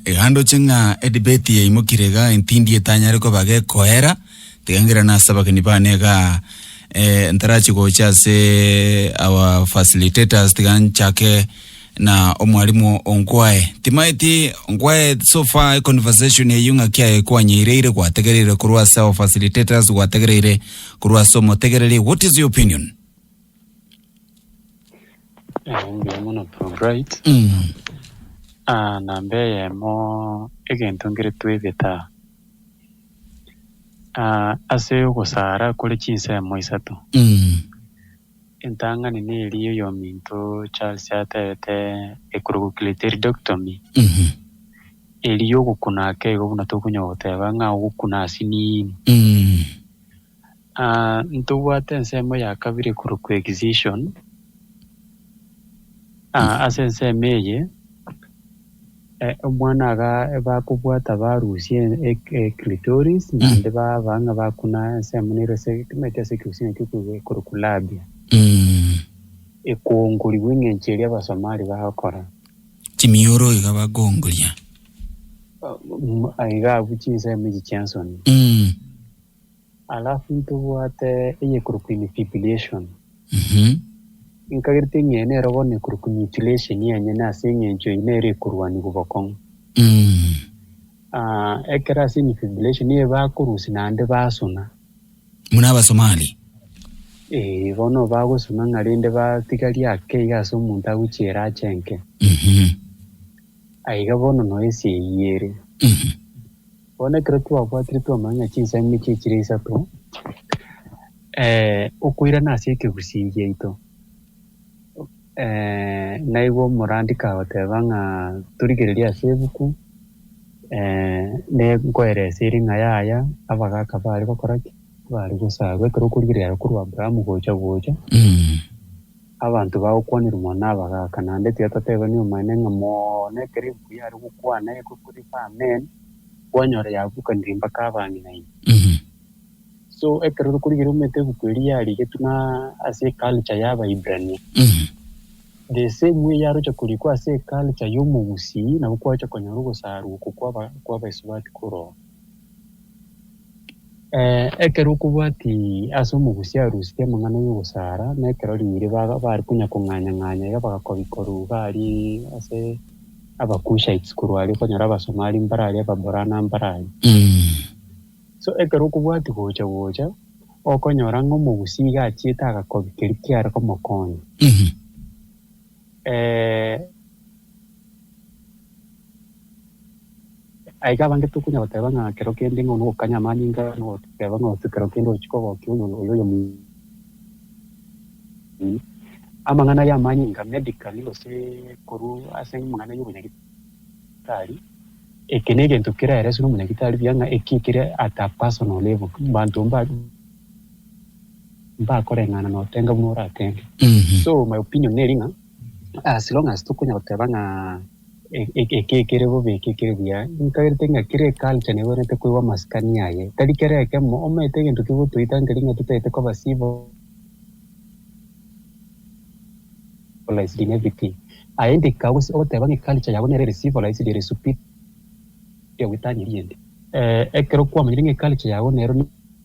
Iga ndoche ng'a edebate yaimokire igaa entindi etanyare koba gekoera, tiga ngera nase abageni bane igaa ntarachi gocha asee our facilitators tiga nchake na omwalimu oo nkwae, timaeti nkwae so far econversation eyio ng'aki aye kwanyereire gwategereire korwa ase our facilitators gwategereire korwa ase omotegereri what is your opinion? Eh, mbuya mono Probright. Mm. Ah, namba eyemo egento nkere twebete aa. Ah, ase ogosara kore chinsemo isato, Mm. entang'ani neria oyominto Charles atebete ecrococyliteridectomy, Mhm. eria yogokuna ake igo buna tokonya goteba ng'a ogokuna asiniini. Mm. Ntobwate ensemo ya kabere korwa coexcision. Ase ensemo eye, omwana aga bakobwata barusia eclitoris naende baba ng'a bakuna ensemo nere ase timaeti ase ekegusii nakio ekorokwa labia, ekoongorigwa eng'encho eria Abasomali bagokora. Chimioro iga bakoongoria. Iga abwo chinsemo echi chi'ensoni. Alafu ntobwate eyekorokwa infibriation. Nkagereti ng'ee nero bono ekorokwa mutilation yenyene ase eng'encho eyio nero ekorwanigwa bokong'u. Aah ekero ase infibriation eye bakorusia naende basuna. Muna Abasomali. Eeh bono bagosuna ng'a rende batiga riake iga ase omonto agochiera ache nke. Aiga bono noyo esie eyio ere. Bono ekero twabwatire twamanya chinsemo echi chire isato, okoirana ase ekegusii giaito, naigwe omorandiki agoteba ng'a torigererie ase ebuku nkoerese ere ng'a yaya abagaka bare gokora ki? Bare gosarwa ekero okorigereria korwa Abrahamu gocha gocha. Abanto bagokwanerwa nabagaaka, naende tiatotebani omonyene ng'a mono ekero ebuku yare gokwana egokurikwa amen, kwanyora yabukanire mpaka abang'inaini. So ekero tokorigereria omanyete ebuku eria yarigetwe na ase eculture ya Abaibrania, the same way yaroche korikwa ase eculture ya Omogusii, nabo kwaroche konyora ogosarwa oko kwa Abaisubati koroo. Ekero okobwati ase omogusi aruseti amang'ana y'ogosara, na ekero riire bare konya kong'anya ng'anya iga bagakobi korwa iga arie ase abakushite korwa aria okonyora abasomali mbare aria ababorana mbare aria. So ekero okobwati gocha gocha okonyora ng'a omogusi iga achiete agakobi keria kiare komokonya Aiga abange tokonya goteba ng'a kero kende ng'a onogokanya amanyinga na ogoteba ng'a ose kero kende ochia kogokia oyo oyomonene. Amang'ana aya amanyinga medically gose korwa ase amang'ana y'obonyagitari eke negento keraereswe nomonyagitari buya ng'a eki kere at a personal level mbanto mbakoreng'ana notenga buna oratenge. So my opinion neri ng'a. As long as tokonyara goteba ng'a eke kere bobe eke kere buya, nkaberete ng'a kera eculture nebwenerete koigwa amasikani aye. Tari kera ekemo omanyete egento kegotoita nkeri ng'a totagete koba civilized in everything. Aye nde kagosi ogoteba ng'a eculture yabo nere ere civilized ere superior goetania eyende. Ekero kwamanyire ng'a eculture yabo nero.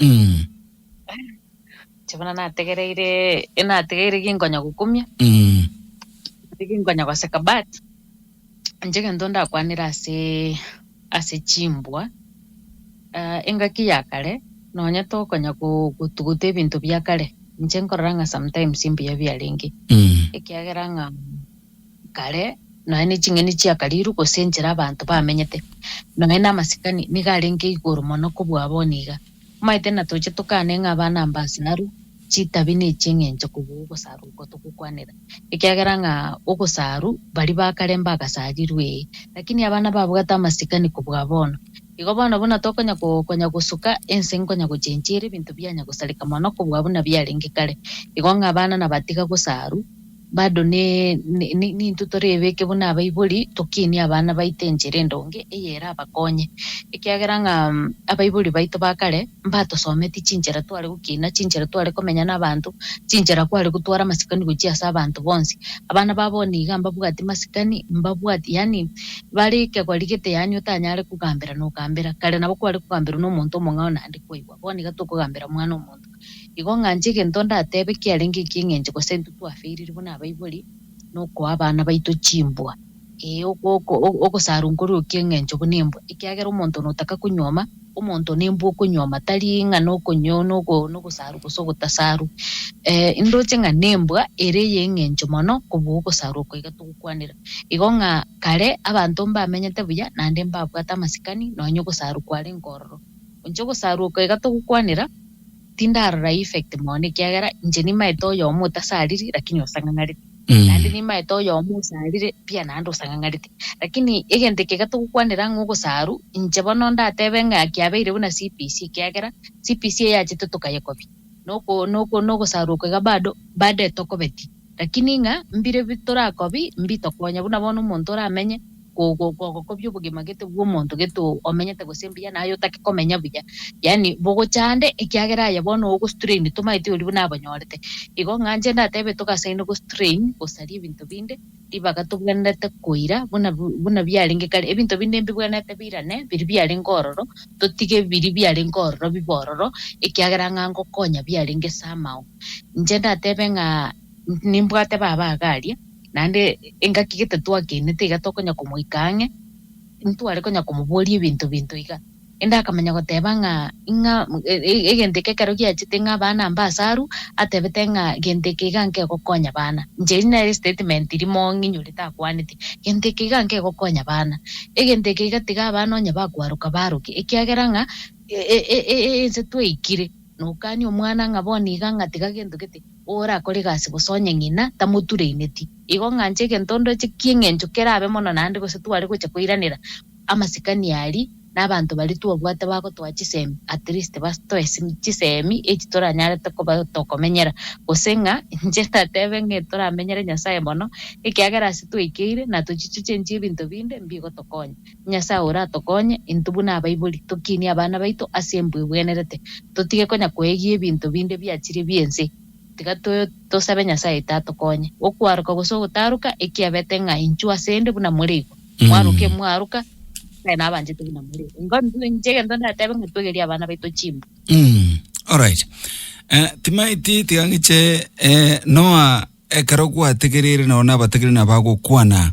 Mm. Inche buna nategereire nategeire ginkonya gokumia Mm. ase ginkonya goseka but inche egento ndakwanire ase ase chimbwa ah, engaki ya kare nonya tokonya go- gotuguta ebinto bia kare inche nkorora ng'a sometimes mbuya biarenge Mm. ekiagera ng'a kare, nonya neching'eni chia kariru, gose enchera abanto bamenyete, nonya namasikani, nigo arenge igoro mono kobua abao niga. Omaete natoche tokane ng'a abana mbasaaru chitabi ne chi'eng'encho kobua ogosaaru okwo togokwanera, ekiagera ng'a ogosaaru baria ba kare mbagasarirwe, ee, lakini abana babwate amasikani kobua bono. Igo bono buna tokonya ko, konya gosuka, ense nkonya gochenchia ere ebinto bianya gosareka mono kobua buna biarenge kare, igo ng'a abana nabatiga gosaaru, Bado nintwe torebeke buna abaibori, tokinie abana baito enchera endonge eyerabakonye, ekiagera ng'a abaibori baito ba kare mbatosometie chinchera tware gokina, chinchera tware komenya nabaanto, chinchera kware gotwara amasikani gochia ase abanto bonsi. Abana babo nigo mbabwatie masikani, mbabwatie yaani bare ekegori gete yaani otanyare kogambera nogambera. Kare nabo kware kogamberwa nomonto omong'ao naende kwaigwa, bono iga tokogambera omwana omonto. Igo ng'anche egento ndatebe kiarenge eki'eng'encho, gose intwe twaferire buna abaibori, nokoa abana baito chimbwa, ee, ogosarwa nkoria o ki'eng'encho buna embwa, ekiagera omonto notaka konyuoma, omonto nembwa okonyuoma, tari ng'a nogosarwa gose ogotasarwa. Ndoche ng'a nembwa ere ey'eng'encho mono kobua ogosarwa oko iga togokwanera. Igo ng'a kare abanto mbamenyete buya, naende mbabwate amasikani, nonye ogosarwa kwarenge ororo. Onche ogosarwa oko iga togokwanera, tindarora eeffect mono ekiagera inche nimaete oyomo otasariri lakini osang'ang'arete. Naende nimaete oyomo osarire pi naende osang'ang'arete. Lakini egento eke iga togokwanera ng'a ogosaru, inche bono ndatebe ng'a kiabeire buna CBC ekiagera CBC eyachete tokayekobia. Noko noko nogosaru oko iga bado bado etokobeti. Lakini ng'a mbire bitorakobi mbitokonya, buna bono omonto oramenye gogokobia obogima gete bw'omonto gete omenyete gose mbuya na aye otake komenya buya, yaani bogochande, ekiagera aye bono ogostrain tomaeti oria buna abanyorete. Igo ng'a inche ndatebe togasaini gostrain, gosaria ebinto binde, ribaga tobwenerete koira buna buna biarenge kare, ebinto binde mbibwenerete birane biria biarenge ororo, totige biria biarenge ororo bibe ororo, ekiagera ng'a ngokonya biarenge ase amao. Inche ndatebe ng'a nimbwate baba agaria, naende engaki gete twakenete iga tokonya komoika ang'e, ntware konya komoboria ebinto binto iga. Ende akamanya goteba ng'a ing'a egento eke ekero giachete ng'a abana mbe ase arwa, atebete ng'a gento eke iga nkegokonya abana. Inche eria nere statement rimo ng'inyorete akwanete, gento eke iga nkegokonya abana. Egento eke iga tiga abana onye bakwaroka baroke, ekiagera ng'a ense twaikire. Nokanie omwana ng'a bono iga ngatiga gento gete, orakore egasi gose onye ng'ina tamotureneti. Igo ng'anche egento ndoche ki'eng'encho kerabe mono naende gose tware gocha koiranera amasikani aria nabanto baria twabwate bagotoa chisemi, at least bastoe chisemi echi toranyarete koba tokomenyera. Gose ng'a inche ndatebe ng'a toramenyere Nyasaye mono ekiagera ase twaikeire na tochichuche inche ebinto binde mbigotokonya. Nyasae oratokonye intwe buna abaibori, tokinie abana baito ase embu ebwenerete, totige konya koegia ebinto binde biachirie bi'ense. Tiga tosabe Nyasae Ita atokonye. Okwaroka gose ogotaroka ekiabete ng'a inchuo ase 'nde buna more igo. Mwaroka emwaroka, Nyasae nabanchete buna more. Nigo intwe inche egento ndatebe ng'a twegerie abana baito chimbu. Alright. Timaeti tiga ng'iche Noah ekero gwategereire nao nabategereire nabagokwana.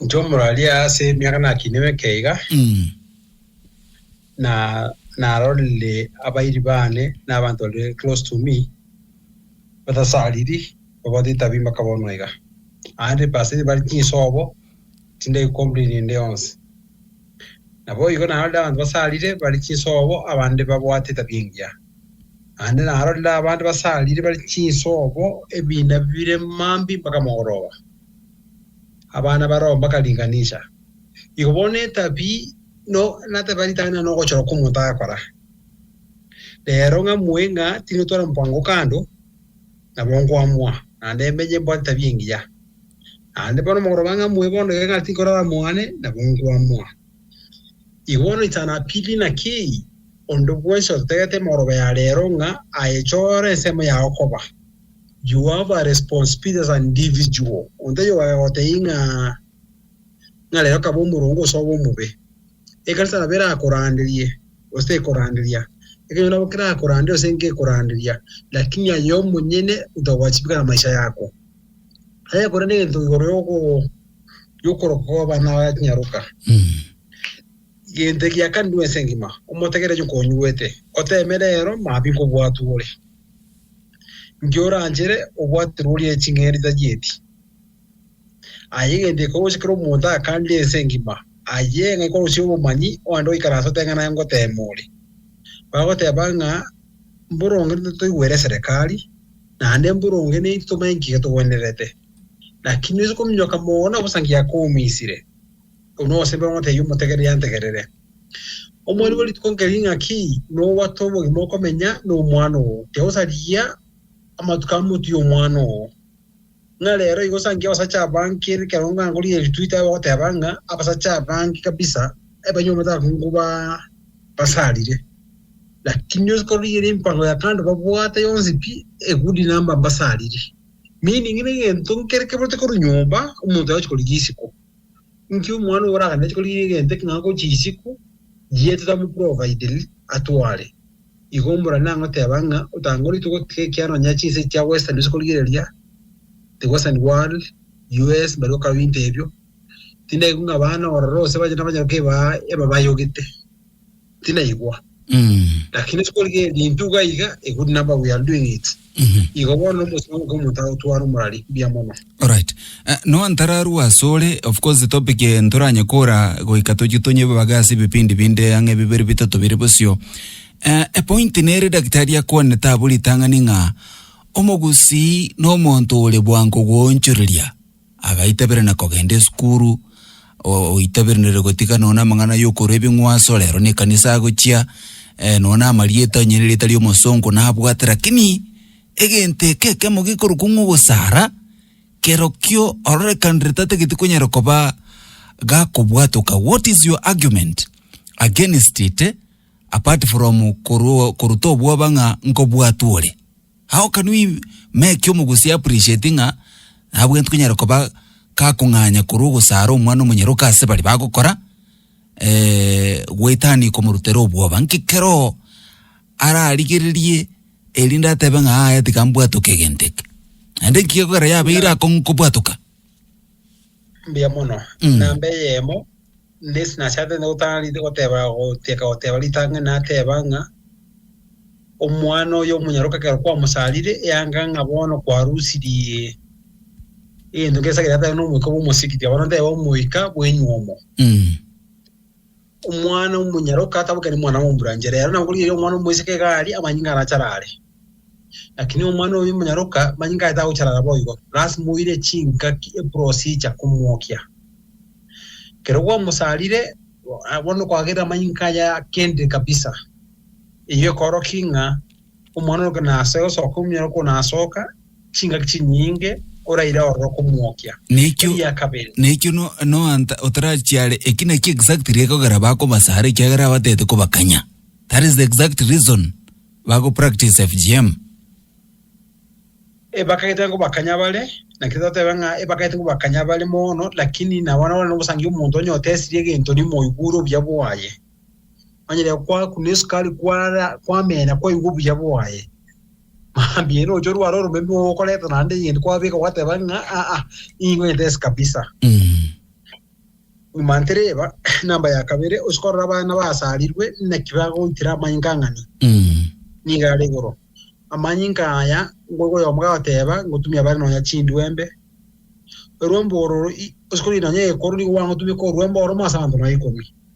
Inche omoraria ase emiaka nakinire ekeiga Mm. na narorire abairi bane na abanto bari close to me batasariri babwate etabia mpaka bono iga. Aande pasiri bari chinsobo tindai complain ende yonsi. Nabo igo narorire abanto basarire bari chinsobo abande babwate etabia engiya. Naende narorire abanto basarire bare chinsobo, ebiina bire mambia mpaka mogoroba, abana baroo mpaka ringanisha. Igo bono etabia no nateba ritang'ani nogochora kw'omonto agakora. Rero ng'amue ng'a tingotwara omopango oo kando, nabo nkoamoa, naende menye mbwate etabia engiya. Naende bono mogoroba ng'amue bono iga ng'a tinkorara mwane, nabo nkoamoa. Igo noitana Pili na Kii, onde bwensi otetegete emoroba ya reero ng'a aechore ensemo yao koba. You have a responsibility as an individual, onde oyogaka gotebia ng'a ng'a reero kaba omoronge gose obe omobe. Ekanisa nabo erakoranderie gose tekoranderia, ekenyoro nabo kerakoranderie gose nkekoranderia, lakini aye omonyene ntogwachibigana maisha yako. Aye korende egento igoro y'ogo- y'okoroka kw'abana bakanyaroka. Egento ekia kane bwensi engima, omotegererie onye konyuete, oteeme rero maambia nkobwatwa ore. Inki oranchere obwaterwe orie ching'ende tachieti? Aye egento ekorosia kera omonto akanire ense engima, aye ng'a ekorosia obomanyi oande oikaranse oteng'ana aye ngoteema ore. Bagoteeba ng'a, Mboronge toigwere eserekari, Naende mboronge neintwe tomanye nki getogwenerete. Lakini noise kominyoka mono na bosa nki yakomisire, korwa nogosebera ng'otebia omotegereri antegerere. Omoriri bwe rituko nkeri ng'aki nobwate obogima okomenya nomwana oo, tiagosarigia amatuko amotwie omwana oo. Ng'a rero igo sanki abasacha abange ekero ngaangorie eritweet aye bagoteeba ng'a abasacha abange kabisa ebanywa amatango ba basarire. Lakini onsi korigereria emipango ya kando babwate yonsi pi a good number mbasariri. Meaning ng'a egento nkere keburetwe korwa nyomba omonto agochia korigia isiko. Inki omwana oyo oraganetie korigia egento eke ng'a agochie isiko yie totamoprovidiri atware? Igo mbora nang'o teba ng'a otangore togotiga ekiara nonya chinsa echi chia Western ase korigereria the Western world, US, mbaria okaba ebinto ebio. Tindaigwe ng'a abana ororo ase abachenu abanyaroka ebaa ebabaya ogete. tinaigwa. Mm. Lakini sikorigereria intwe iga iga, iguru naba we are doing it. Mhm. Igo bono omosio oke omonto agotwara omorari mbuya mono. Alright. Eh, no ntararu asore of course topic eh, ntoranye kora goika tochi tonyebe baga ase bipindi binde ang'e bibere bitato bire bosio. Eh, a point nere daktari akwane taburi tang'ani ng'a omogusi no monto ore bwango goonchoreria. Agaitebera na kogenda esukuru, o- oiteberenere gotiga nonya na amang'ana ya okorwa ebing'wanso, rero na ekanisa agochia, nonya na amarieta onye nerieta ria omosongo nabwate lakini, egento eke ekemo gekorokwa ng'a ogosara, kerokio ororekanire tatageti konyara koba gakobwatoka, what is your argument against it, apart from korwa koruta obwoba ng'a nkobwatwa ore. How can we make omogusi appreciate ng'a nabwenerete konyara koba gakong'anya korwa ogosaara omwana omonyaroka ase baria bagokora eh, goetania komorutera obwoba nki keroo ararigererie erinde atebe ng'a aye tiga mbwatoke egento eke naende nki gekogera yabeire akong'u kobwatoka Mbuya mono. Mm. Namba eyemo nesi nachakete nde gotanga rite goteba goteka goteba ritang'ani nateba ng'a omwana oyo omonyaroka ekero kwamosarire eyanga ng'a bono kwarusirie egento ngesagere atari nomoika bwa omosigiti abana teba omoika bwenyuomo Mm. Omwana omonyaroka atabokeri omwana omoburanche, reero nabwo rirorio omwana omoiseke iga aria, amanyinga arachare are. Lakini omwana oyo omonyaroka, amanyinga aye tagochara ara boigo, lasima oire chingaki, eprocedure, komwokia. Ekero gwamosarire, bono kwagerire amanyinga aye kende kabisa. Eyio ekoorokia ng'a Omwanorokio naase gosoka omuya okwo nasoka chingaki chinyinge oraire ororo komwokia. Nekio Eria kabere. nekio no, no anta otarachiare eki naki exactly ekogera bakobasara ekiagera abatete kobakanya. That is the exact reason bago practice FGM. Ebakagete nkobakanya bare, naki totebe ng'a ebakagete nkobakanya bare mono, lakini nabo nabare nobosangi omonto onye otesirie egento rimo oigure obuya bwaye. Onye rero kwakuna esukari kwara kwamena kwaigwa obuya bwaye. Mambia eno ocho rware oromeme okoreta naende egento kwabeka gwateba ng'a aa ingo entesi kabisa. Nyuma ntereba namba ya kabere osikorora abana basarirwe naki bagoitera amanyinga ang'ani. Niga are igoro. Amanyinga aya ngoigwa oyomo gagoteba ngotumia bare nonya chindwembe. Orwembo oro i- osikorora nonya ekoro nigo gwangotumeka orwembo oromo ase abanto nonya ikomi.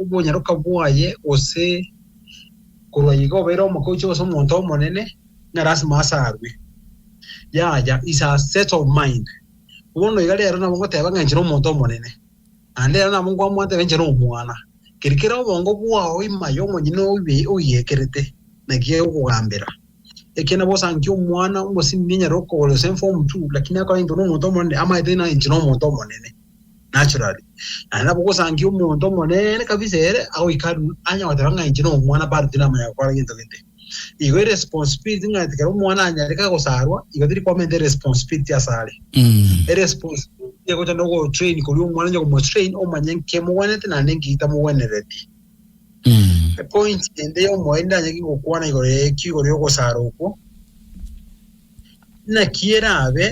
obonyaroka bwaye, gose korwa igo obeire omogochi gose omonto omonene, ng'a lasima asarwe. Yaya, is a set of mind. Bono iga rero nabo ngoteba ng'a inche nomonto omonene, naende rero nabo nkwamwata ng'a inche nomwana. Keri kera obongo bwao ime aye omonyene oibe oigekerete, naki agokogambera. Ekiagera bosa ankia omwana omosimi enyare okogora gose inform two, lakini akore into nomonto omonene, amaete ng'a inche nomonto omonene. naturally. Naende nabo ogosangia omonto omonene kabisa ere agoika aa anya goteba ng'a inche nomwana bado tinamanya gokora gento gete. Igo eresponsibility ng'a ekero omwana anyareka agosarwa igo teri kwamenta eresponsibility asare. Eresponsibility egocha nogotrain koria omwana onye komotrain omanye nkemogwenerete naende nkitamogwenereti. Epointi ende yomoeri ndanyare ki gokwana igoro ekio igoro ya ogosara okwo. Naki erabe,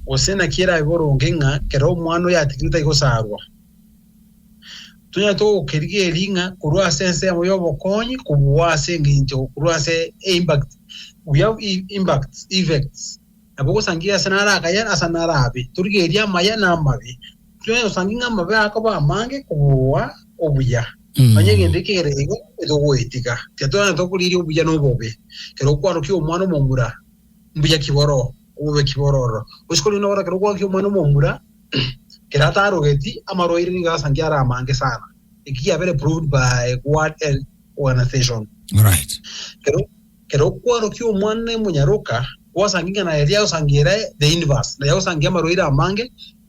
gose naki erabe boronge ng'a kera omwana oyatigire tai gosaarwa? Tonyare togokerigeria ng'a korwa ase ensemo y'obokonyi kobua ase engencho korwa ase impact we have e- impacts effects nabo ogosangereria ase nare akaye ase nare abe torigereria amaya na amabe Joy osangi ng'a amabe akoba amange kobua obuya. Mm. Onye egento eke kere igo etogoetiga. Tiatwenerete okoriria obuya na obobe. Kero okwarokia omwana omomura, mbuya ki boro, obobe ki boro ororo. Gose kori onde ogora kero okwarokia omwana omomura, kero atarogeti, amarwaire nigo asangi are amange sana. Eki giabere proved by World Health Organization. Alright. Kero kero okwarokia omwana emonyaroka, gwasangi ng'a naye riagosangi ere the inverse, naye agosangia amarwaire amange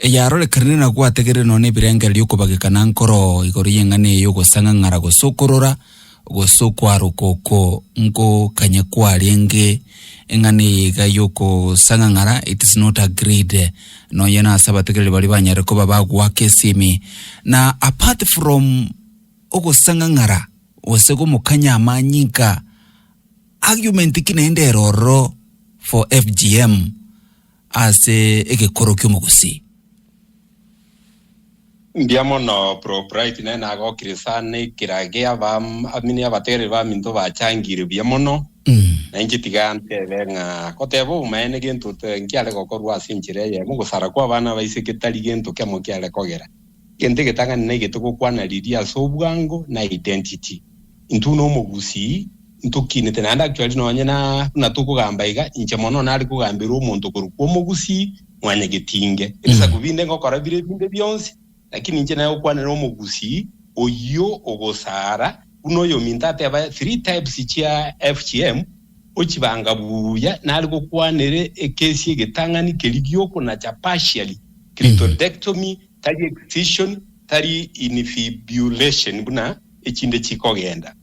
eyarorekanire na gwategerire nonya nebirengererio okobageka na nkoro igoro y'eng'ana eye y'ogosang'ang'ara gose okorora gose okwaroka oko nko kanye kwarenge eng'ana eye iga y'okosang'ang'ara it is not agreed nonya na ase abategereri baria banyare koba bagoaka esimi na apart from ogosang'ang'ara gose gomokanya amanyinka argument ki naende ero ororo for FGM ase egekoro ki'omogusii. Mbuya mono bro bright naye nagokire sana ekera gia aba amini abategereri baminto bachangire buya mono na inche tiga ntebe ng'a goteba obomaene gento nkiare gokorwa ase enchera eyemo gosara kwabana baise getari gento kemo kiare kogera Egento egetang'ani naki togokwana riria ase obwango na identity. Intwe na omogusii ntokinete naende actually nonye na buna tokogamba iga inche mono nare kogamberwa omonto korwa kwa omogusii mwanyi getinge ebisaku binde ngokora bire binde bionsi lakini inche nare gokwanera omogusii oyio ogosaara Buna oyominto ateba three types chia FGM, ochibanga buya nare gokwanere ekesi egetang'ani keria giokonacha partially, clitoridectomy, tari excision, tari infibulation buna echinde chikogenda.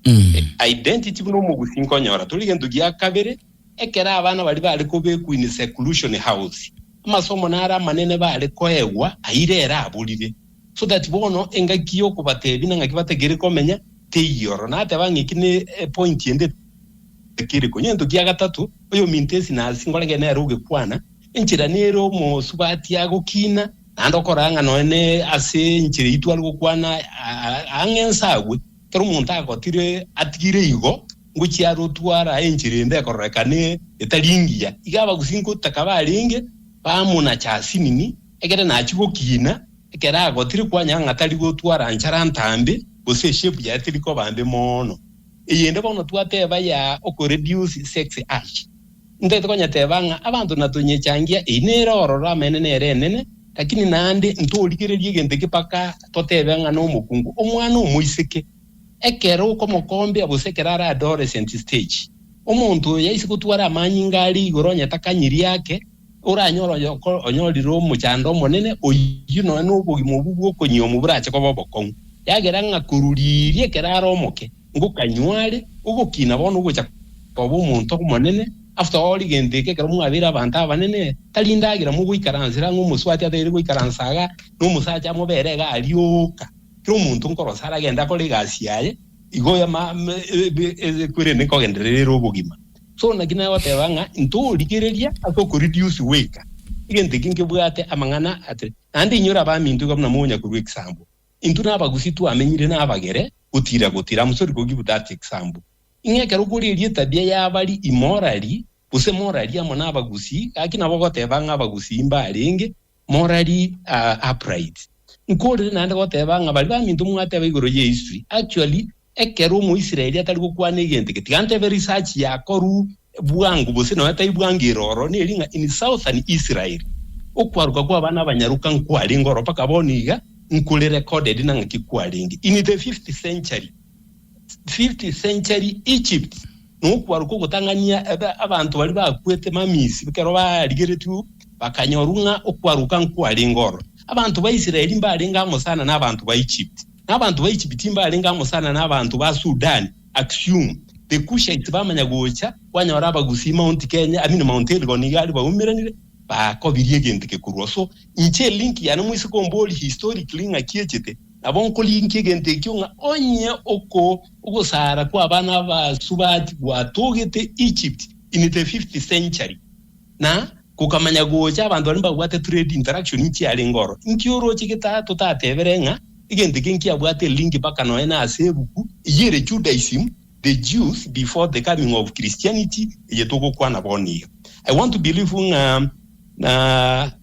Identity buna omogusi nkonyora tori gento gia kabere. Ekero abana baria bare kobekwa in seclusion house, amasomo naro amanene bare koegwa aire ere aborire, so that bono engaki y'okobatebia nang'aki batakeire komenya teiyo. Oro nateba ng'a eki ne epointi ende etakiri konya egento kia gatato, oyominto esi nasi nkorage nere ogekwana, enchera nere omosubati agokina, naende okoraa ng'a nonya ne ase enchera eyio tware gokwana ang'e nsagwe. Ekero omonto agotire atigire igo, ngochia are otwara enchera ende ekororekana etari engiya, iga abagusi ngotaka barenge baamo na chasinini, egere nachie gokiina ekero agotire kwanyora ng'a tari gotwara nchara ntambe, gose eshepu yaye teri koba mbe mono. Eyende bono twateba ya okoreduce sex urge. Ntaete konyeteba ng'a abanto natonyechangia, eyi nere ororo amaene nere enene, lakini naende ntorigereria egento eke mpaka totebe ng'a nomokungu omwana omoiseke. Ekero okomokombia gose ekero are adolescent stage, omonto oyo yaise gotwara amanyinga aria igoro onye takanyirie ake, Oranyore oyoko onyorire omochando omonene, oyio nonya nobogima obwo bw'okonyiomwa burache koba obokong'u, eagera ng'a koruriiria ekero are omoke, ngokanywa are ogokina bono ogocha koba omonto omonene, after all gento eke ekero mwabeire abanto abanene, tari ndagera mogoikaransera ang'e omosubati ataeire goikaransa iga, nomosacha amobere iga arioka, kera omonto nkorose aragende akore egasi yaye, igo ama ebi ebi ebi ekwirende nkogenderere ere obogima. So naki nagoteba ng'a intorigereria ase okoreduce weka egento eke nkebwate amang'ana ate, naende inyora abaminto iga buna monya korwa ekisambo. Intwe nabagusi twamenyire nabagere gotira gotira, am sorry go give that ekisambo. Ing'e ekero okoreria etabia yabari imorari gose morari amo nabagusi, gaki nabo ogoteba ng'a abagusi imbarenge, Morali are upright. Nkorire naende goteba ng'a baria baminto mwateba igoro ye history, actually ekero omoisraeli atari gokwana egento eke, tiga ntebe research yakoru bwango gose nonya tai bwango ere oro, neri ng'a in southern Israel okwaruka kwa abana abanyaroka nkwarenge oro mpaka bono iga, nkuri recorded nang'aki kwarenge in the fifth century. fifth century Egypt, na okwaruka ogotang'ania abanto baria bakwete mamisi ekero barigeretigwe bakanyorwa ng'a okwaruka nkwarenge oro. Abanto ba Israeli mbarenge amo sana n'abanto ba Egypt, na abanto ba Egypt mbarenge amo sana n'abanto ba Sudan, Aksum. The Cushites bamanya gocha kwanyora Abagusii Mount Kenya, I mean Mount Elgon iga aria baumeranire, bakobirie egento eke korwa. So, inche link yane moiseke omborie historically ng'a ki echete. Nabo nkorigia egento ekio ng'a onye oko ogosara kw'abana abasubati gwatogete Egypt in the fifth century, na gokamanya gocha abanto baria mbabwate trade interaction nchiarenge oro, inki oroche getaha totatebere ng'a egento eke nkiabwate link mpaka nonya na ase ebuku eyio ere Judaism, The Jews Before the Coming of Christianity, eye togokwana bono iga? I want to believe ng'a na.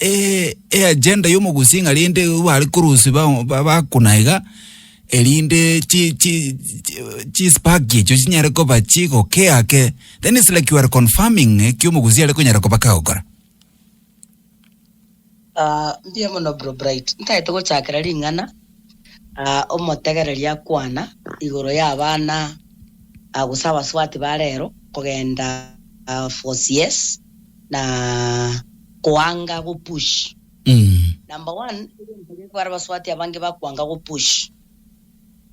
e- eagenda y'omogusi ng'a rende bare korusia ba- ba- bakuna iga, erinde chi- chi- chi- chispark echio chinyare koba chigokea ake, then it's like you are confirming ekio omogusi are konyara koba kagokora. Ah, mbuya mono bro Bright. Ntaete gochakera ring'ana ah, omotegereri akwana igoro ya abana ah, gose abasubati ba rero kogenda ah, for CS. na koanga go push. Number one egento geko bare baswati abange bakoanga go push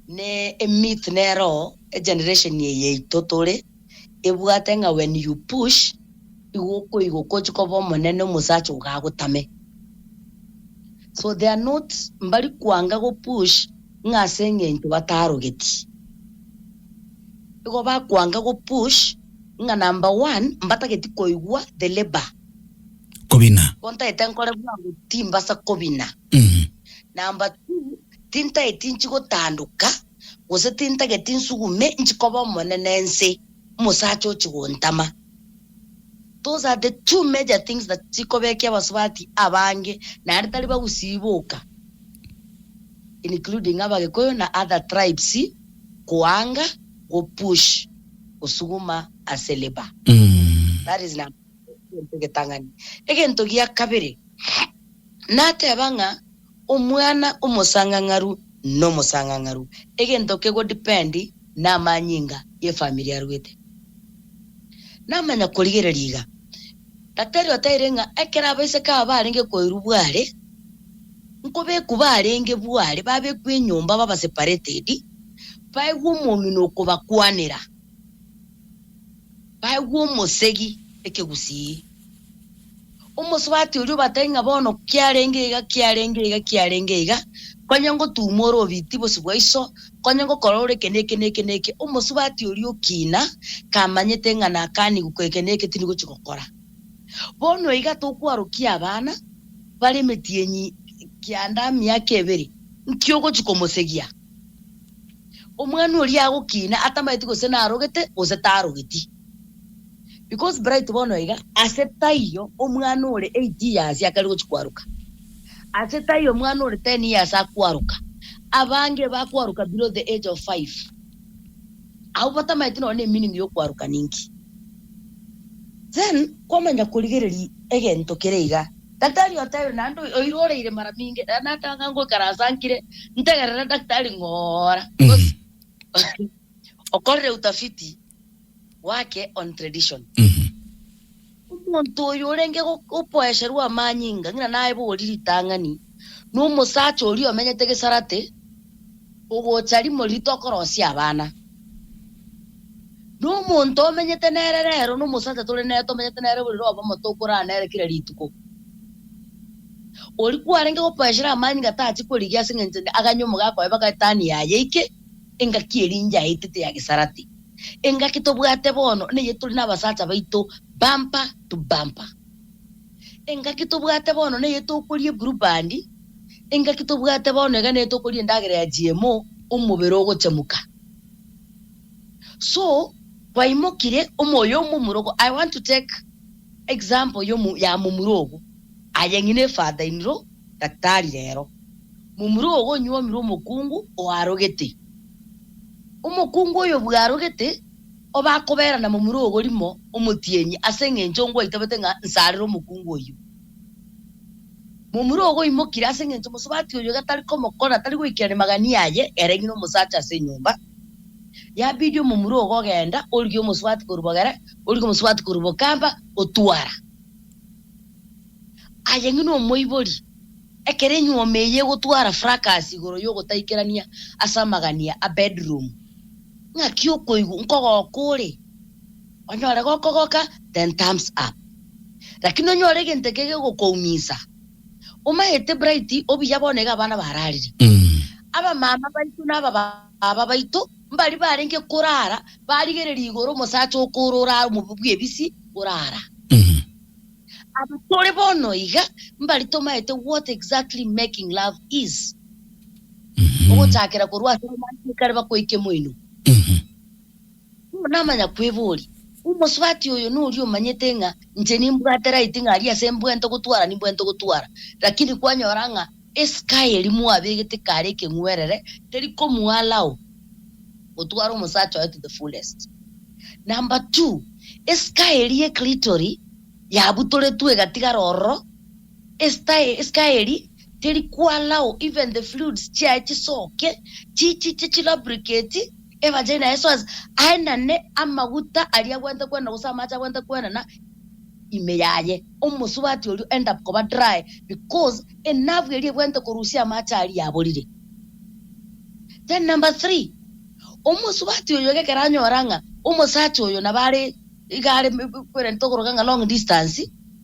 ne emyth nero egeneration eye yaito tore ebwate ng'a when you push igo okoigoka ochie koba omonene omosacha ogo agotame so they are not mbari koanga go push ng'a ase engencho batarogeti Nigo bakwanga go push ng'a number one mbatageti koigwa the labor. Kobina. Nigo ntaete nkore bwango timbasa kobina. Number two tintaeti nchi gotandoka gose tintageti nsugume nchi koba omonene ense omosacha ochi gontama. Those are the two major things that chikobekia abasubati abange naende tari bagusiboka including abagikuyu na other tribes koanga go push gosuguma ase labour. That is number one egento egetang'ani. Egento gia kabere nateba ng'a. Omwana omosang'ang'aru nomosang'ang'aru, egento kego depend namanyinga yefamiri arwete. Namanya korigereria iga, gatari otaire ng'a ekero abaiseke aba barenge koirwa bware, nkobekwa barenge bware, babekwa enyomba baba separated, baegwe omong'ina okobakwanera, baegwe omosegi ekegusii. Omosubati oria obatebie ng'a bono kiarenge iga, kiarenge iga, kiarenge iga, konya ngotuuma ore obiiti bosio bwa iso, konya ngokora ore eke na eke na eke na eke, omosubati oria okina, kamanyete ng'a nakanigwe kore eke na eke tindi gochia gokora. Bono iga tokwarokia abana bare emetienyi kianda miaka ebere, nki ogochia komosegia? Omwana oria agokina atamanyeti gose narogete gose tarogeti. Because bright bono iga ase taiyo omwana ore eight years akare gochia kwaruka, ase taiyo omwana ore ten years akwaruka, abange bakwaruka below the age of five, abwo batamaeti nonya ne meaning y'okwaruka ninki. Then kwamanya korigereria egento kere iga, daktari otebe naende oyo oira oreire mara minge, rero nata ng'a ngoikaransa nkire ntegerere daktari ng'oora, because okorire utafiti gwake on tradition. Omonto oyo orenge go- gokoesherwa amanyinga ng'ina naye bori ritang'ani, na omosacha oria omenyete gesarate, ogocha rimo rito okorosia abana. Na omonto omenyete nere rero, na omosacha tore nere tomenyete nere bori roro obomo tokorara nere kera rituko, oria kwarenge gokoesherwa amanyinga tachi korigia ase eng'encho aganye omogakoe baka etani yaye eike engaki eria inche aetete ya gesarate. Engaki tobwate bono neye tore nabasacha baito bumper to bumper. Engaki tobwate bono neye tokoria eblue band, engaki tobwate bono iga neye tokoria endagera ya GMO, omobere ogochemuka. So, kwaimokire omoyo omomurogo, I want to take example ya omomuro ogo. Aye ng'ina efata iniro daktari rero. Momura ogonyuomirwa omokungu oarogete. Omokungu oyo bwarogete obe akoberana momura ogo rimo, Omotienyi, ase engencho ngwaitabete ng'a nsarere omokungu oyio. Momura ogoimokire ase engencho mosubati oyo gatari komokora tari goikera rimagania aye ere ng'ina omosacha ase enyomba. Yabidi omomura ogo ogenda origie omosubati korwa bogere, origie omosubati korwa bokamba, otwara. Aye ng'ina omoibori, ekero enyuoma eye egotwara fracas igoro y'ogotaikerania ase amagania a bedroom, ng'aki okoigwa nkogoka ore? Onyore gokogoka then thumbs up. Lakini onyore egento eke gegokoumisa, omaete Bright obuya bono iga abana bararire. Abamama baito na abababa. Baba baito mbari barenge korara barigereria igoro omosacha okoora orare omobe bw'ebisi orara. Aba tore bono iga mbari tomaete what exactly making love is, ogochakera korwa ase romantic kare bakoika emoino. Nigo namanya kweboria, Omosubati oyo noria omanyete ng'a inche nimbwate right ng'a aria ase mbwente gotwara nimbwente gotwara, lakini kwanyora ng'a esky eri mwabegete kare ekeng'werere teri komu allow gotwara omosacha oye to the fullest. Number two, esky eria eclitory yabutoretwe egatigara ororo. Eskaeri teri kwalao even the fluids chiaye chisoke chichiche chilubricate e vagina yaye so as aenane amaguta aria agwente kwenena gose amache agwente kwenena ime yaye omosubati oria end up koba dry because e nerve eria egwente korusia amache aria yaborire then number three omosubati oyo gekero anyora ng'a omosacha oyo nabo are iga are kwerente okoroka ng'a long distance.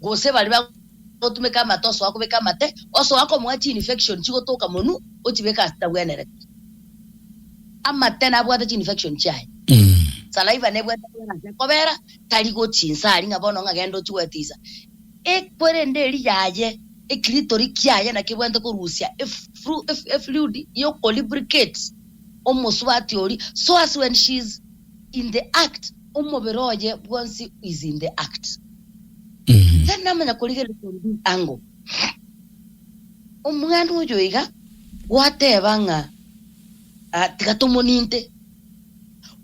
gose baria bagotumeka amate osoa kobeka amate, osoa komoa chiinfection chigotoka monwe ochibeke ase chitabwenerete. Amate nabwate chiinfection chiaye. Saliva nebwate ekwere ase ekobera, tari gochia inse aria ng'a bono ng'a genda ochie gwetisa. Ekwere ende eria yaye, ekiritori kiaye naki ebwate korusia efru, ef, efluid y'okolubricate omosubati oria, so as when she is in the act, omobere oye bwonsi is in the act. Mhm. Tari namanya korigereria ndi ango. Omwana oyo iga gwateba ng'a ah, tiga tomoninte.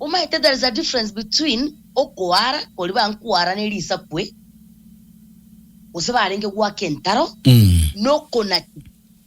Omaete there is a difference between okoara kori bankwara ne risakwe gose barenge gwaka entaro Mhm. nokonaki.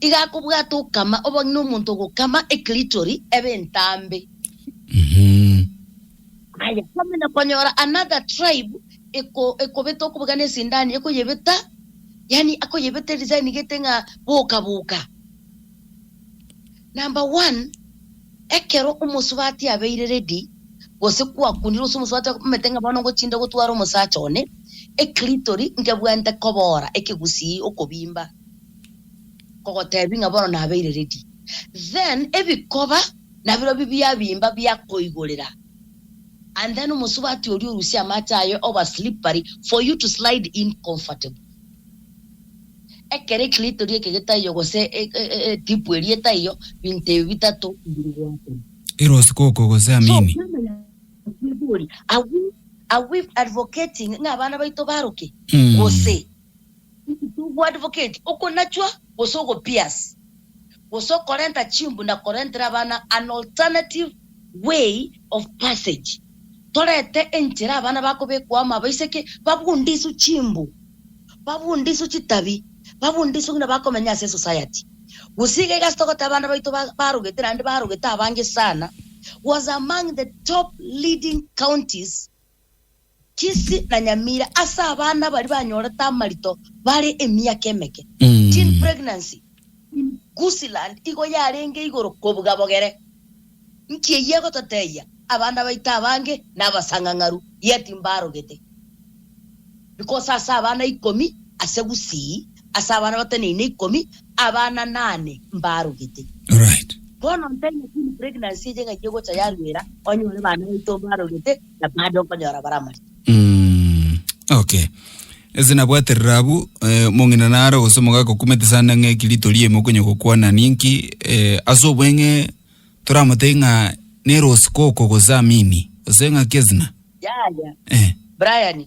Iga akobwata okama obong'ina omonto ogokama ekritori ebe entambe. Aye kwamanya konyora another tribe eko ekobeta okobeka ne sindani ekoyebeta yaani akoyebeta edesign gete ng'a boka boka. Number one ekero omosubati abeire ready gose kwakundire gose omosubati omanyete ng'a bono ngochinde gotwara omosacha one ekritori nkebwente kobora ekegusii okobimba. Nkogoteebia ng'a bono nabeire ready. Then ebikoba nabirobio bibia bimba bia koigorera and then omosubati oria orusie amache aye over slippery for you to slide in comfortably. Ekero eklitori eke getaiyo gose etipu eria etaiyo, binto ebio bitato mbiri goakora. Ere osikuku gose So, amini. kwamanya gotiga ekigori, are we, are we advocating ng'a abana baito baroke? Gose. Inki togoadvocati? Okonachwa gose ogopias gose okorenta chimbu na korentera abana an alternative way of passage. Torete enchera abana bakobekwa amo abaiseke babundiswe chimbu, babundiswe chitabi, babundiswe ng'ina bakomenya ase esociety. Gose iga iga ase togoteba abana baito ba- barogete naende barogete abange sana was among the top leading counties Kisi na Nyamira ase abana baria banyorete amarito bare emiaka emeke, teen pregnancy, in Gusiland igo yarenge igoro kobuga bogere. Nki eyio egototebia? Abana baito abange nabasang'ang'aru yet mbarogete. Because ase abana ikomi ase Gusii, ase abana bateneine ikomi, abana nane mbarogete. Alright. Bono ntaina teen pregnancy eye ng'ai egocha yarwera onyore bana baito mbarogete, na baada okonyora baramanya. Mm, okay. Ase nabwaterera abwo, eh, mong'ina naro gose omogaka okumete sana ng'a ekirito riaye mokonya gokwana ninki eh, ase obweng'e toramotebie ng'a nero osikoko gose amini gose ng'aki ezina Yaya, eh. Brian,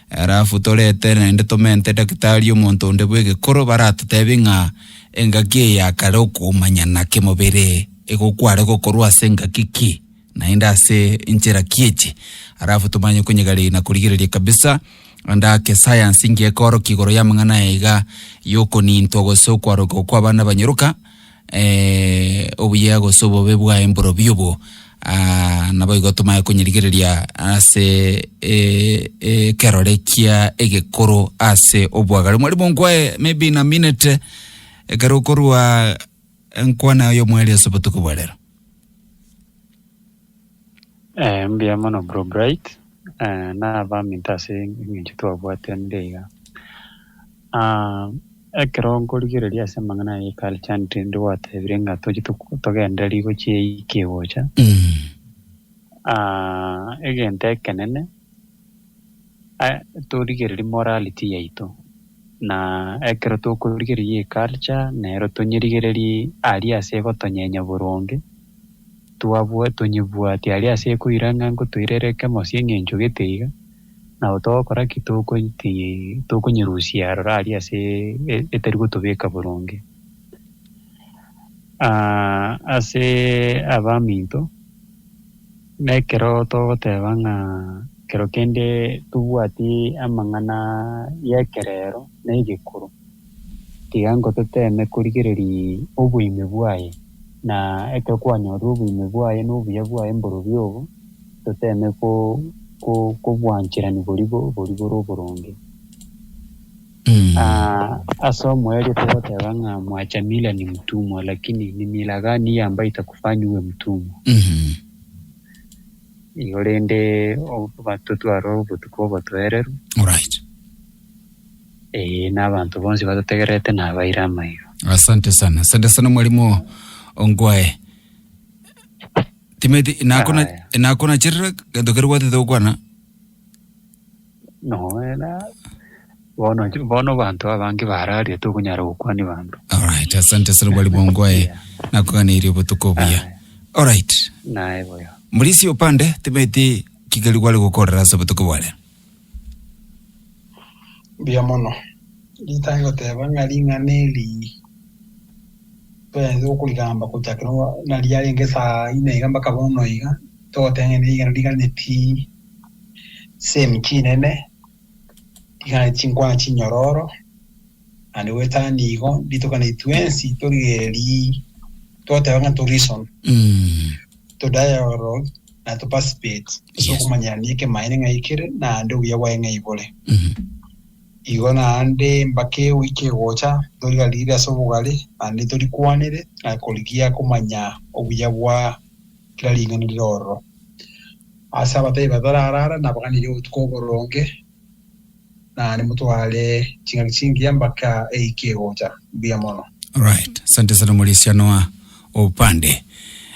Alafu torete naende tomente daktari omonto onde bw'egekoro baratotebie ng'a engaki eye ya kare okomanyana kemobere igo kware gokorwa ase engaki ki naende ase enchera ki echi, alafu tomanye konyegareria na korigereria kabisa ande ake sayansi nki ekorokia igoro y'amang'ana aya iga y'okonintwa gose okwarokigwa kw'abana banyoroka obuya gose obobe bwaye mborobio obo, ah, naboigo tomae konyerigereria ase eh, eh, ekerore kia egekoro ase obwagare. Mwalimu nkwae maybe in a minute, ekero okorua enkwana y'omweri ase obotuko bwa rero. Mbuya mono bro bright nabaminto ase eng'encho twabwatanire iga. Ekero nkorigereria ase amang'ana aya e culture ninde gwatebire ng'a tochia togende rigo chiaikire gocha egento ekenene. torigererie morality yaito, na ekero tokorigereria eye culture nero tonyerigererie aria ase egotonyenya boronge, twabwa tonyebwati aria ase ekoira ng'a nkotoirera ekemo ase eng'encho gete iga, nabo togokora ki? Tokoiti tokonyerusia aroro aria ase etari gotobeka boronge. Ase abaminto. Nekero togoteba ng'a kero kende tobwati amang'ana y'ekerero na egekoro, tiga ngototeeme korigereria oboime bwaye, na ekero kwanyorire oboime bwaye na obuya bwaye mborobio obo, toteeme kobwancherani boria bore oboronge. Ase omoerio togoteba ng'a mwachamire ni mtumwa, lakini ni mila gani ya ambaye itakufanya uwe mtumwa? Igo rende abanto twarora obotuko obotoereru, Alright. ee, na abanto bonsi batotegerete nabaire amaiga. Asante sana. Asante sana mwalimu Ongwae. Timeti nakona Aya. nakona chirira gento kerwatete gokwana. Noera bono bono banto abange bararia tokonyara gokwania banto. Alright, asante ase rogwari bongwae nakoganeirie obotuko obuya. Alright, Naye boyo. Murisi opande tebeti kigeri gware gokorera ase obotuko bware. Mbuya mono. Rita ngoteba ng'a ring'ana eri twensi okorigamba gochakera nariarenge saa ine iga mpaka bono iga, togoteba ng'a ring'ana rigane pi. chisemi chinene, tigana chinkwana chinyororo, naende goetana nigo nditokane twensi torigererie toteba ng'a torison, Mm. to dialogue na to participate ase Yes. okomanyerana ekemaene ng'a ekere naende obuya bwaye ng'a ibore. Mhm. Igo naende mbaka eo ikegocha torigarire ase obogare naende torikwanere na korigia komanya obuya bwa kera ring'ana rire ororo. Ase abatari batararara nabaganeirie obotuko oboronge, na nimotware ching'aki chingiya mbaka eike egocha. Mbuya mono. Alright, asante sana Murisia Noah Opande.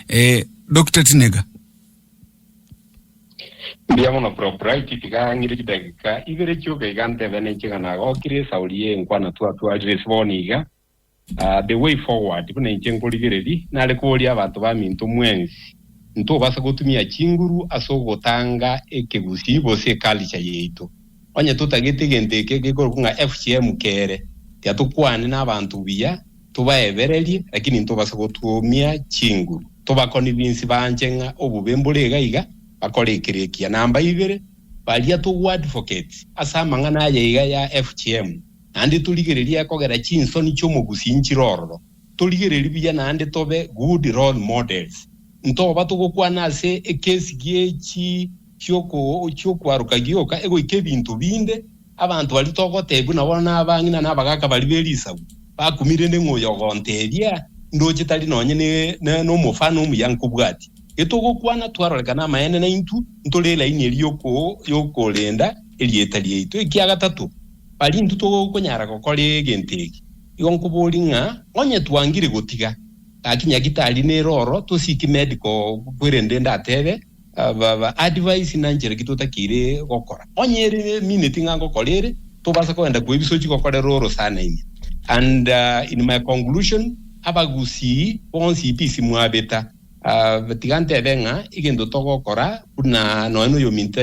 Eh, Dr. Tinega, Mbuya mono Bro Bright, tiga ng'ire chidagika ibere chioka iga ntebe ninche ng'a nagokire esauri ye enkwana twatwarire ase bono iga. The Way Forward, Buna inche nkorigereria, nare koria abanto baminto mwensi, Ntobasa gotumia chinguru ase ogotanga ekegusii gose eculture yaito? Onye totagete egento eke gekorokwa ng'a FGM kere, tiatokwane nabanto buya tobaebererie, lakini ntobasa gotumia chinguru tobaconvince banche ng'a obobe mbore iga iga, bakore ekeria ekiya. Namba ibere, baria togoadvocate ase amang'ana aya iga ya FGM. Naende torigererie kogera chinsoni chi'omogusi nchire ororo, torigererie buya naende tobe good role models. Ntoba togokwana ase ekesi gie chi'okwaroka gioka egoika ebinto binde, abanto baria togoteebigwa nabo buna abang'ina na abagaaka baria be risagu, bakumire rende ng'a oyogontebia ndoche tari nonye nomofano omuya nkobwati. Getogokwana twarorekana amaene naintwe ntore elaini eria y'okorenda erieta riaito. Ekiagatato, Baria intwe togokonyara gokora egento eke, igo nkoboria ng'a onye twangire gotiga gaki nyagitari nere oro tosiki medical book rende ndatebe advice na nchera ki totakeire gokora onye ere minute ng'a ngokora ere tobasa kogenda kwa ebisochi gokorera orosana ime and in my conclusion abagusii bonsi peace mwabeta tiga ntebe ng'a egento togokora buna nonye na oyominto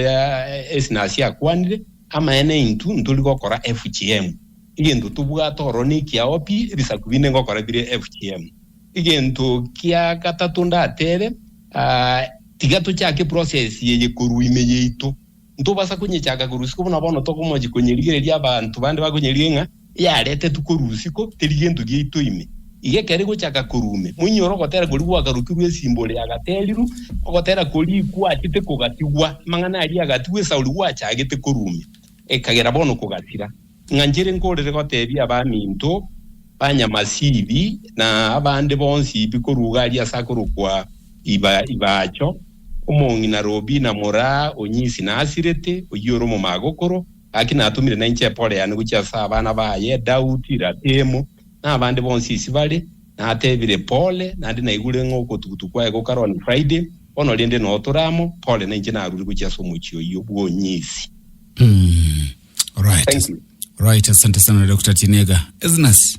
esnasi akwanire Amaene intwe ntori gokora FGM, egento tobwate ororo nekiao pi ebisaku binde ngokora bire FGM. Egento kia gatato ndatebe, tiga tochake process eye korwa ime yaito. Ntobasa konyechaga korwa isiko buna bono tokomochi konyerigereria abanto bande bakonyerigia ng'a biaretetwe korwa isiko, teri gento giaito ime. Iga ekero igochaka korwa ime, moinyore ogotera koria gwagarokirwe esimbore yagaterirwe, ogotera koria gwachete kogatigwa, amang'ana aria agatigwa esauri gwachagete korwa ime, ekagera bono kogasira. Ing'anchire nkorere gotebia abaminto ba Nyamasibi na abande bonsi bi korwa Ugali ase akorokwa Ibacho, omong'ina Robina moraa onyisi nasirete, oyio ore omomagokoro, Gaki natumire nainche Eporeani gochia ase abana baye, Daudi, Ratimu, na abande bonsi isi bare, natebire, Pole, naende naigure ng'a ogotugutu kwaye gokare one Friday, bono rende noo tore amo, pole, nainche narure gochia ase omochie oyio bw'onyiisi. Right, Thank you. right, asante sana Dokta Tinega. Esnas.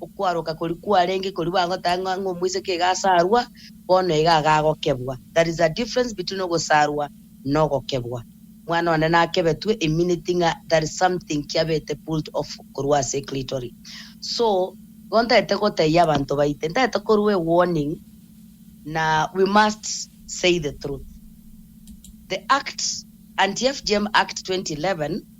Okwaroka koria kwarenge koria bagotanga ng'a ng'a omoiseke iga asarwa, bono iga iga agokebwa. There is a difference between ogosarwa na ogokebwa. Omwana one nakebetwe e minute ng'a there is something kiabete pulled off korwa ase e clitory. So, igo ntagete gotebia abanto baite, ntagete korua e warning na we must say the truth. The Act, Anti-FGM Act 2011,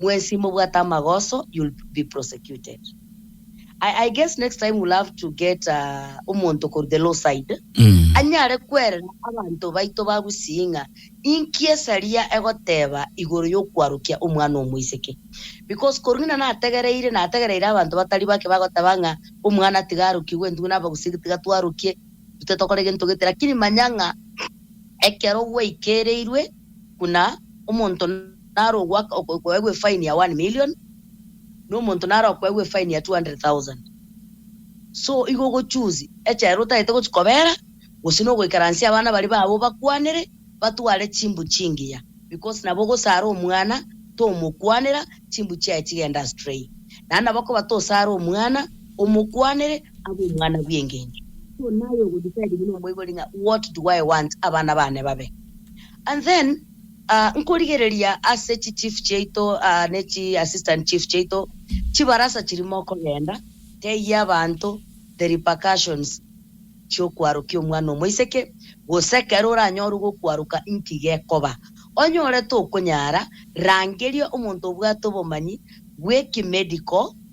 Mwesi mobwate amagoso you'll be prosecuted I I guess next time we'll have to get a omonto korwa the law side anyare kwerera abanto baito ba Gusii ng'a inki esaria egoteba igoro y'okwarukia omwana omoiseke because korwa ng'ina nategereire nategereire abanto batari bake bagoteba ng'a omwana tiga arukigwe intwe n'Abagusii tiga twarukie intwe titokora egento gete lakini manya ng'a ekero gwaikereirwe buna omonto naro ogoaka okoegwa efaini ya one million, na omonto naro okoegwa efaini ya two hundred thousand. So igo ogochoose echa ere otagete gochia kobera, gose na ogoikaransia abana baria babo bakwanere, batware chimbu chingiya, because nabo ogosara omwana tomokwanera, chimbu chiaye chigende astray. Naende nabo okoba tosare omwana, omokwanere, abe omwana bw'engencho. So naye ogo-decide buna omoibori ng'a what do I want abana baane babe? And then. Aa, nkorigereria ase chi chief chiaito aa ne chi assistant chief chiaito, chibarasa chiri mokogenda, tegia abanto the repercussions chi'okwarokia omwana omoiseke, gose ekero oranyorwe gokwaroka inki gekoba. Onye ore tokonyara, rangeria omonto obwate obomanyi bw'ekimedical.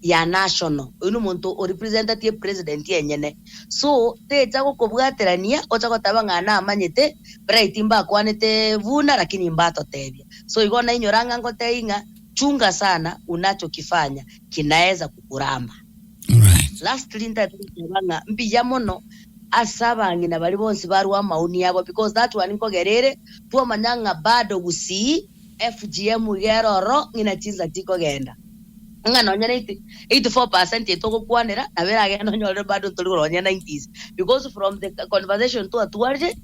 ya national, oyio nomonto o representatie president enyene, so techa gokobwaterania ocha goteba ng'a namanyete bright mbakwanete buna lakini mbatotebia, so igo nainyora ng'a ngotei ng'a chunga sana unachokifanya kinaeza kukuramba. Alright. Lastly ntaete goteba ng'a mbuya mono ase abang'ina baria bonsi barwa amaoni abo because that one nkogerere twamanya ng'a bado gusii, FGM iga ere ororo ng'ina chinsa tikogenda, ng'a nonya 84% ya itogokwanera nabo eragende onyorere bado ntori korwa nonya 90s because from the conversation twatwarire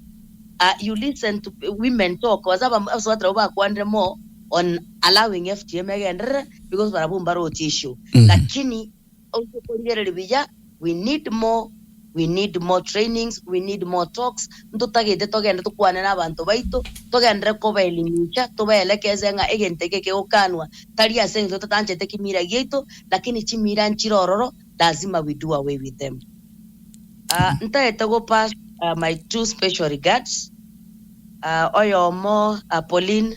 you listen to women talk gose abasuba nabo bakwanire more on allowing FGM egenderere because barabwo mbaroche issue lakini Oise korigereria buya we need more we need more trainings we need more talks ntotagete togende tokwane nabanto baito togendere kobaelimisha tobaelekeze ng'a egento eke kegokanwa tari ase engencho totanchete kimira giaito lakini chimira nchire ororo lazima we do away with them Ah, ntagete go pass ah, my two special regards Ah, oyomo ah, Pauline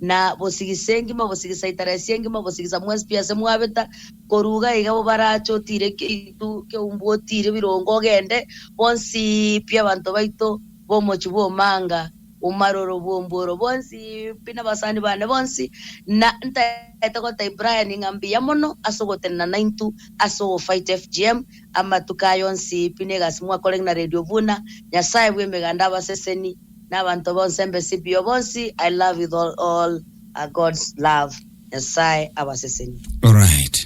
na bosigisa engima, bosigisa itaresi engima, bosigisa mwensi pi ase mwabeta, koruga iga bo barache otiire keitu keumbu, otiire birongo ogende, bonsi pi abanto baito b'omochie bw'omanga omaroro bw'ombuoro, bonsi pi nabasani bane bonsi, na ntaete gotai Brian ng'a mbuya mono ase ogotenena naintu ase ogofight FGM amatuko aya onsi pi na egasi mwakorege na Radio Buna, Nyasaye bw'emeganda abaseseni. Nabanto bonse mbesibio bonsi I love with all a God's love Nyasaye abasesenie. Alright.